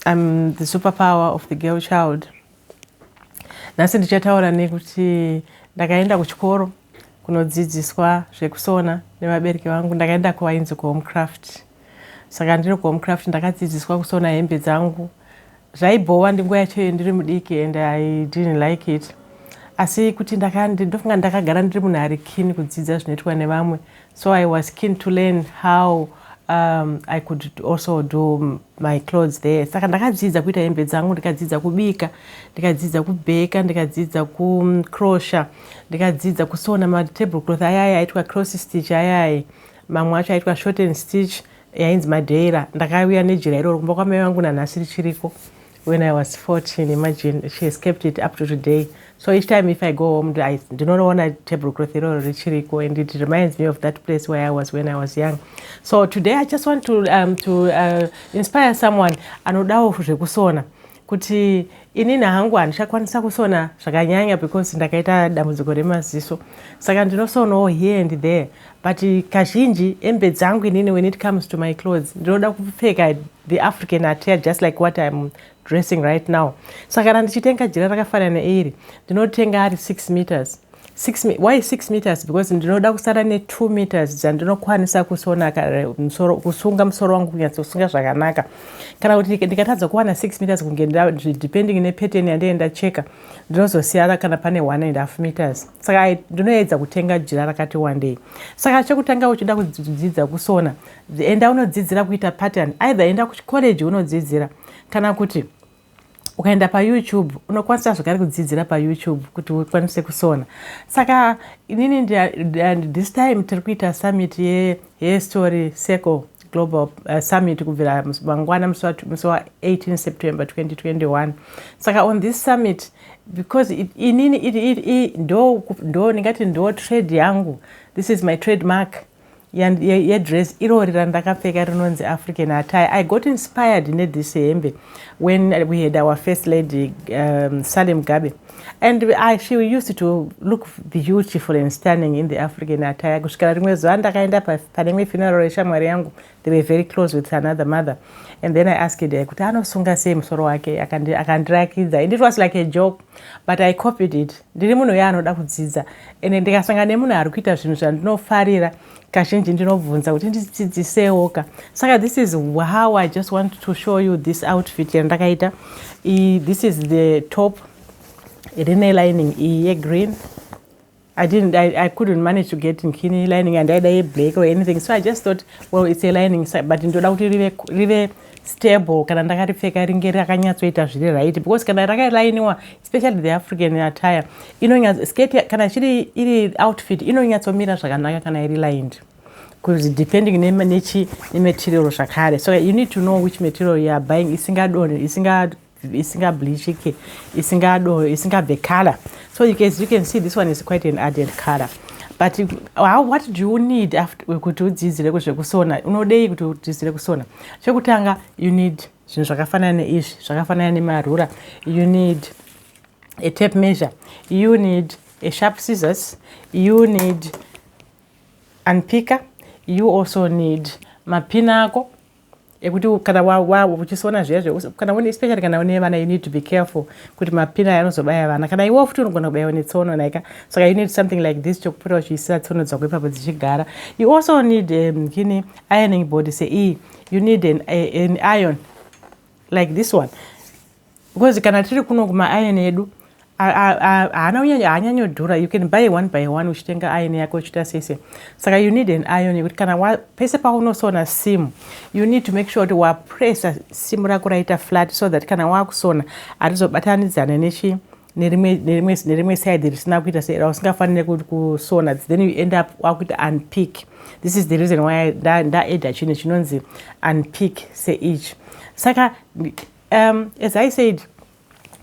I'm the superpower of the girl child nhasi ndichataura nekuti ndakaenda kuchikoro kunodzidziswa zvekusona nevabereki vangu ndakaenda kuvainzi kuhomecraft saka ndiri kuhomecraft ndakadzidziswa kusona hembe dzangu zvaibhowa ndinguva yachoyo ndiri mudiki and i didn't like it asi kuti ndofunga ndakagara ndiri munhu ari kini kudzidza zvinoitwa nevamwe So I was keen to learn how um, I could also do my clothes there. Saka ndakadzidza kuita hembe dzangu, ndikadzidza kubika, ndikadzidza kubheka, ndikadzidza kucrosha, ndikadzidza kusona matable cloth ayaya aitwa cross stitch ayaya, mamwe acho aitwa short and stitch yainzi madeira. Ndakauya nejira iroro kumba kwamai vangu nanhasi richiriko. When I was 14, imagine she has kept it up to today. So each time if I go home, I do not want a table cloth or richiriko, and it reminds me of that place where I was when I was young. So today I just want to um, to uh, inspire someone anodawo zvekusona kuti inini hangu handichakwanisa kusona zvakanyanya because ndakaita dambudziko remaziso saka ndinosonawo here and there but kazhinji hembe dzangu inini when it comes to my clothes ndinoda kupfeka the african atia just like what im dressing right now so kana ndichitenga jira rakafanana iri ndinotenga ari six meters Six, why six meters because ndinoda kusara netwo meters dzandinokwanisa kusona musoro, kusunga musoro wangu kunyatsosunga zvakanaka kana kuti ndikatadza kuwana six meters kunge depending nepattern yandee ndacheka ndinozosiyana kana pane one and half meters saka ndinoedza kutenga jira rakati wandei saka chekutanga uchida kudzidza kusona enda unodzidzira kuita pattern either enda kucollege unodzidzira kana kuti ukaenda payoutube unokwanisa zvakare kudzidzira payoutube kuti ukwanise kusona saka inini this time tiri kuita summit History Circle Global uh, Summit kubvira mangwana musi wa 18 September 2021. Saka on this summit because inini iri ndo ndo ndingati ndo trade yangu. This is my trademark yedress irori randakapfeka rinonzi african attire i got inspired nethis hembe when we had our first lady um, salem gabe and I, she used to look beautiful and stunning in the african attire kusvikira rimwe zuva ndakaenda pane imwe funeral yeshamwari yangu they were very close with another mother and then i asked her kuti anosunga sei musoro wake akandirakidza and it was like a joke but i copied it ndiri munhu uye anoda kudzidza and ndikasanga nemunhu ari kuita zvinhu zvandinofarira kazhinji ndinobvunza kuti ndidzidzisewo ka saka this is how i just want to show you this outfit yandakaita this is the top rine lining iyi yegreen I didn't, I, I couldn't manage to get nkini lining and aida yeblack or anything so i just thought well it's a lining but ndoda kuti rive, rive stable kana ndakaripfeka ringe rakanyatsoita zviri right because kana rakalainiwa especially the african attire inonyatso skate kana chiri iri outfit inonyatsomira zvakanaka kana iri lined because depending nechi nematerial zvakare so you need to know which material you are buying isingadone isinga isinga bleachike isingadone isingabve color so you can, you can see this one is quite an added color but how, what do you need after kuti udzidzire kuzvekusona unodei kuti udzidzire kusona chekutanga you need zvinhu zvakafanana neizvi zvakafanana nemarura you need a tape measure you need a sharp scissors you need unpicker you also need mapina ako ekuti kana uchisona zviya kana une especially kana une vana you need to be careful kuti mapina aya anozobaya vana kana iwo futi unogona kubaiwa netsono naika saka you need something like this chokupota uchiisira tsono dzako ipapo dzichigara you also need um, kini ironing board seiyi you need an, an iron like this one because kana tiri kuno kumairon edu haana kunyanya haanyanyodhura you can buy one by one uchitenga iron yako uchiita sese saka you need an iron yekuti kana pese paunosona simu you need to make sure kuti wapressa simu rako raita flat so that kana wakusona harizobatanidzane nechi nerimwe side risina kuita sera usingafanire kusona then you end up wakuita unpick this is the reason why ndaeda chinhu chinonzi unpick seichi saka um, as i said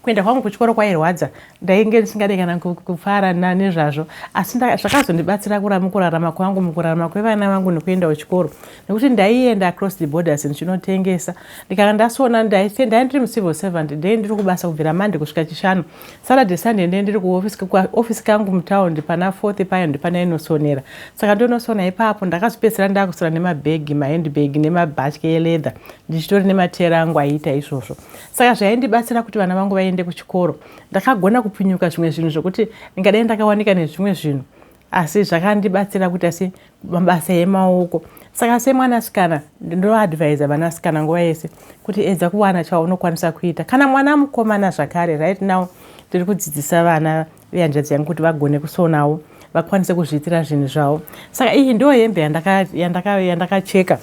kuenda kwangu kuchikoro kwairwadza ndainge ndisingade kana kufara nezvazvo asi zvakazondibatsira kurarama kwangu mukurarama kwevana vangu nekuenda kuchikoro nekuti ndaienda across the borders ndichinotengesa ndikanga ndasona ndainda ndiri mucivil servant ndei ndiri kubasa kubvira mande kusvika chishanu saturday sunday ndei ndiri kuofisi kangu mutaundi pana fourth payo ndipana inosonera saka ndonosona ipapo ndakazopedzisira ndakusona nemabhegi mahandbag nemabhatye eleather ndichitori nemateera angu aiita izvozvo saka zvaindibatsira kuti vana vangu vaende kuchikoro ndakagona kupunyuka zvimwe zvinhu zvokuti ndingadai ndakawanika nezvimwe zvinhu asi zvakandibatsira kuita se mabasa emaoko saka semwanasikana ndoadvisa vanasikana nguva yese kuti edza kuwana chaunokwanisa kuita kana mwana mukomana zvakare right now tiri kudzidzisa vana vehanzvadzi yangu kuti vagone kusonawo vakwanise kuzviitira zvinhu zvavo saka iyi ndo hembe yandakacheka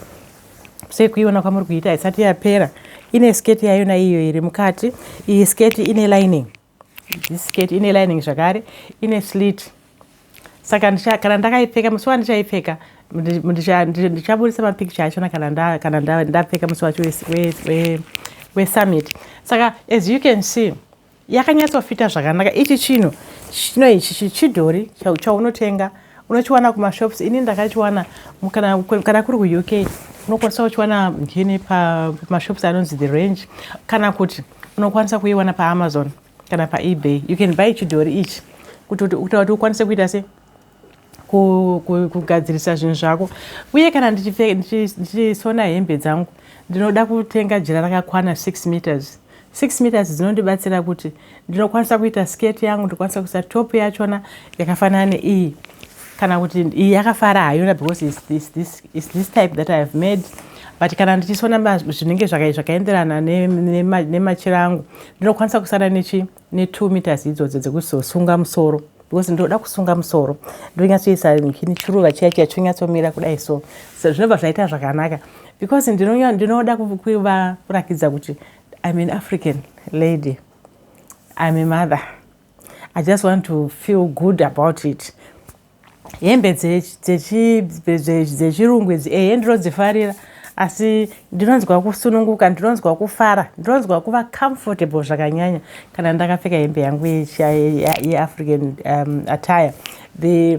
sekuiona kwamuri kuita haisati yapera ine sketi yayona iyo iri mukati iyi sketi ine lining This skirt ine lining zvakare, ine slit. Saka ndicha, kana ndakaipfeka musi wandichaipfeka ndichaburitsa mapicture achona kana kana ndapfeka musi wacho wesummit. Saka as you can see yakanyatsofita zvakanaka. Ichi chinhu chino ichi chidhori chaunotenga unochiwana kumashops. Ini ndakachiwana kana, kana kuri kuUK unokwanisa kuchiwana ngini pamashops anonzi the range kana kuti unokwanisa kuiwana paamazon kana paebay you can buy chidhori ichi kuti kutaura kuti ukwanise kuita se kugadzirisa zvinhu zvako uye kana ndichisona hembe dzangu ndinoda kutenga jira rakakwana 6 meters 6 meters dzinondibatsira kuti ndinokwanisa kuita skate yangu ndikwanisa kuisa top yachona yakafanana neiyi kana kuti iyi yakafara hayona because is this, this, is this type that i have made but kana ndichisona zvinenge zvakaenderana nemachira angu ndinokwanisa kusara nechi ne2 meters idzodzo dzekuzosunga musoro because ndinoda kusunga musoro ndonyatsoisa kini chiruva chiya chiya chonyatsomira kudai so so zvinobva zvaita zvakanaka because ndinoda kuva kurakidza kuti im an african lady im a mother I just want to feel good about it hembe dzechirungu idzi ehe ndinodzifarira asi ndinonzwa kusununguka ndinonzwa kufara ndinonzwa kuva comfortable zvakanyanya kana ndakapfeka hembe yangu yeafrican um, attire the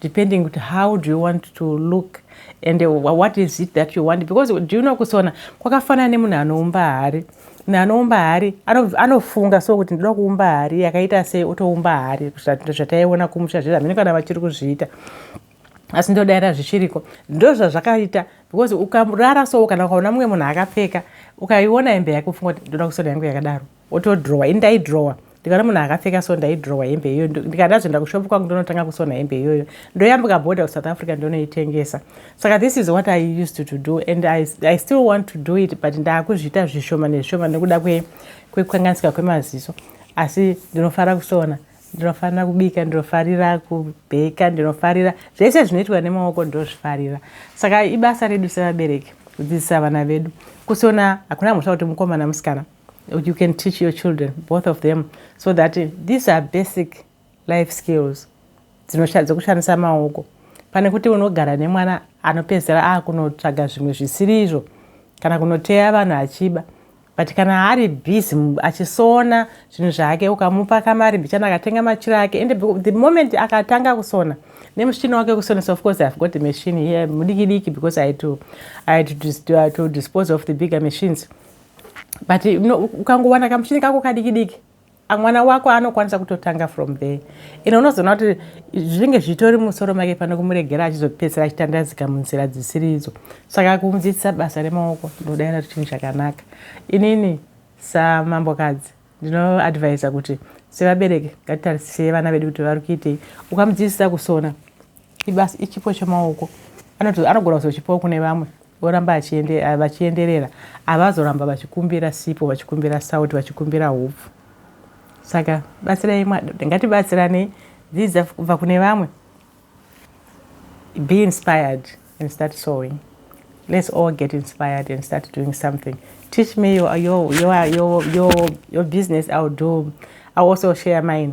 depending kuti how do you want to look and uh, what is it that you want because do you know kusona kwakafanana nemunhu anoumba hari munhu anoumba hari anofunga so kuti ndoda kuumba hari yakaita sei otoumba hari zvataiona kumusha zvezvi hamene kana vachiri kuzviita asi ndodaira zvichiriko ndozvazvakaita because ukarara so kana ukaona mumwe munhu akapfeka ukaiona hembe yake ufunga kuti ndoda kusona yangu yakadaro wotodhirowa ini ndaidhirowa ndikaona munhu akapfeka so ndaidhirowa hembe iyoyo ndikati ndazoenda kushopu kwangu ndonotanga kusona hembe iyoyo ndoyambuka bhodha kusouth africa ndonoitengesa saka this is what i used to do and I, i still want to do it but ndaakuzviita zvishoma nezvishoma nekuda kwekanganisika kwemaziso asi ndinofara kusona ndinofanira kubika ndinofarira kubheka ndinofarira zvese zvinoitwa nemaoko ndinozvifarira saka ibasa redu sevabereki kudzidzisa vana vedu kusona hakuna mhosva kuti mukomana musikana you can teach your children both of them so that eh, these are basic life skills dzekushandisa maoko pane kuti unogara nemwana anopedzera akunotsvaga zvimwe zvisiri izvo kana kunoteya vanhu achiba but kana ari busy achisona zvinhu zvake ukamupa kamari mbichana akatenga machiro ake and the moment akatanga kusona nemuchina wake wekusonesa of course ihave got machine here mudiki diki because i had to, I had to, to, to dispose of the bigger machines but ukangowana kamuchini kako kadiki diki mwana wako anokwanisa kutotanga from there ine unozoona kuti zvinenge zvitori musoro make pane kumuregera achizopedzisira achitandazika munzira dzisiri idzo saka kumudzidzisa basa remaoko ndodaira kuti chinhu chakanaka inini samambokadzi ndinoadvisa kuti sevabereki ngatitarisisei vana vedu kuti vari kuitei ukamudzidzisa kusona ibasa ichipo chemaoko anogona kuzochipawo kune vamwe oramba eh, vachienderera avazoramba vachikumbira sipo vachikumbira sauti vachikumbira hupfu saka batsirai ngatibatsiranei dzidza kubva kune vamwe be inspired and start sowing let's all get inspired and start doing something teach me your, your, your, your, your, your business i'll do i'll also share mine